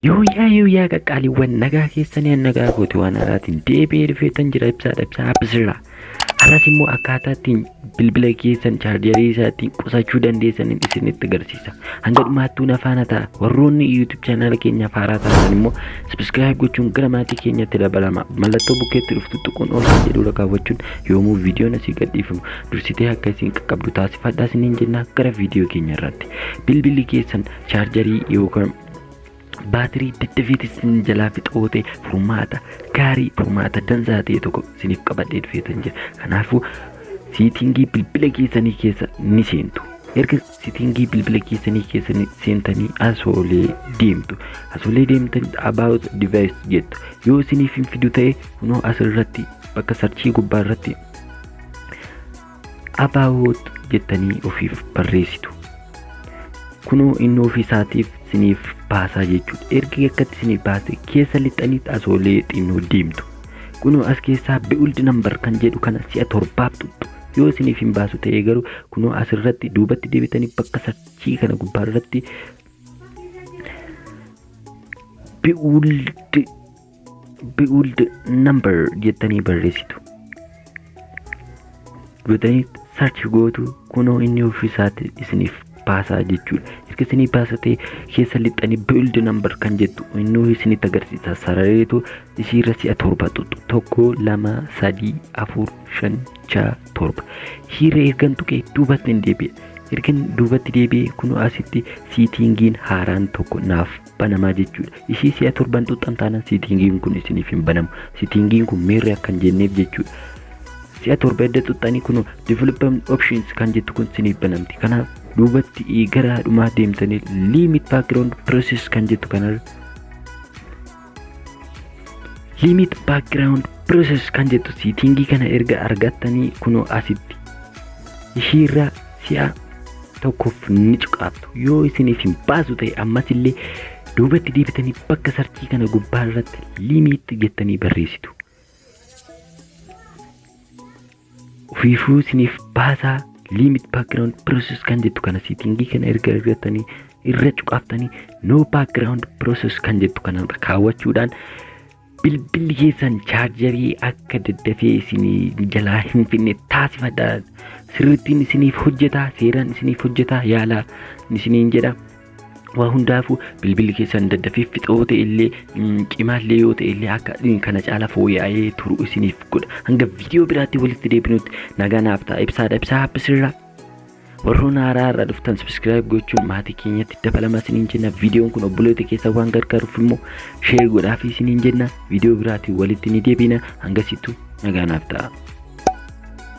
Yooyyaa yooyyaa qaqqaaliiwwan nagaa keessanii nagaa kooti waan haraatiin deebi'ee dhufeetan jira ibsaadha ibsaa abbisirraa. Har'as immoo akkaataa ittiin bilbila keessan chaarjarii isaa ittiin qusachuu dandeessaniin isinitti agarsiisa. Hanga dhumaattuu na faana ta'a. Warroonni YouTube chaanaala keenyaaf haaraa taatan immoo subscribe gochuun gara maatii keenyatti dabalama. Mallattoo bukkeetti dhuftu tuquun oolchaa jedhu irra kaawwachuun yoomuu viidiyoon asii gadhiifamu dursitee akka isin qaqqabdu taasifadha isiniin jenna gara viidiyoo keenya irratti bilbilli keessan chaarjarii yookaan baatirii daddafiiti isin jalaa fixoote furmaata gaarii furmaata dansaa ta'e tokko isiniif qabadhee dhufeetan jira kanaafuu siitingii bilbila keessanii keessa ni seentu erga Sitingii bilbila keessanii keessa seentanii asoolee deemtu. Asoolee deemtan about device jettu. Yoo isiniif hin fidu ta'e kunoo asirratti bakka sarchii gubbaa irratti about jettanii ofiif barreessitu. Kunoo inni ofiisaatiif isiniif baasaa jechuudha. Erga akkatti isiniif baase keessa lixxaniitti asoolee xinnoo deemtu. Kunoo as keessaa build number kan jedhu kana si'a torbaaf tuttu. Yoo isiniif hin baasu ta'ee garuu kunoo asirratti duubatti deebitanii bakka sarchii kana gubbaa irratti build build number jettanii barreessitu. Gootanii sarchi gootu kunoo inni ofiisaati isiniif baasaa jechuudha. Erga isinii baasa ta'e keessa lixxanii build number kan jettu innuu isinitti agarsiisa. Sarareetu isiirra si'a torba xuxxu tokko lama sadii afur shan ja'a torba hiira ergan tuqe duubatti hin deebi'e ergan duubatti deebi'e kun asitti siitingiin haaraan tokko naaf banamaa jechuudha ishii si'a torban tuqxan taanaan siitingiin kun isiniif hin banamu siitingiin kun meerri akkan jenneef jechuudha si'a torba edda tuqxanii kun development options kan jettu kun isiniif banamti kanaaf duubatti eh, gara dhumaa deemtanii limit background process kan jettu kanarra limit background process kan jettu siitingii kana erga argattanii kunoo asitti ishiirra si'a tokkoof ni cuqaaftu yoo isin isin baasu ta'e ammas illee duubatti deebitanii bakka sarchii kana gubbaa irratti limit jettanii barreessitu Ofiifuu isiniif baasaa limit background process kan jettu kana siitingii kana erga argattanii irra cuqaaftanii no background process kan jettu kana kaawwachuudhaan bilbilli keessan chaarjarii akka daddafee isin jalaa hin finne taasifadha. Sirrittiin isiniif hojjetaa, seeraan isiniif hojjetaa yaalaa isiniin jedha. waa hundaafuu bilbilli keessan daddafee fixoo ta'e illee cimaallee yoo ta'e illee akka kana caala fooyya'ee turu isiniif godha hanga viidiyoo biraatti walitti deebinutti nagaa naaf ta'a ibsaadha ibsaa habbisirraa warroon haaraa irraa dhuftan sabiskiraayib gochuun maatii keenyatti dabalama isiniin jenna viidiyoon kun obboleota keessa waan gargaaruuf immoo sheer godhaafii isiniin jenna viidiyoo biraatiin walitti ni deebina hangasittu nagaa naaf ta'a.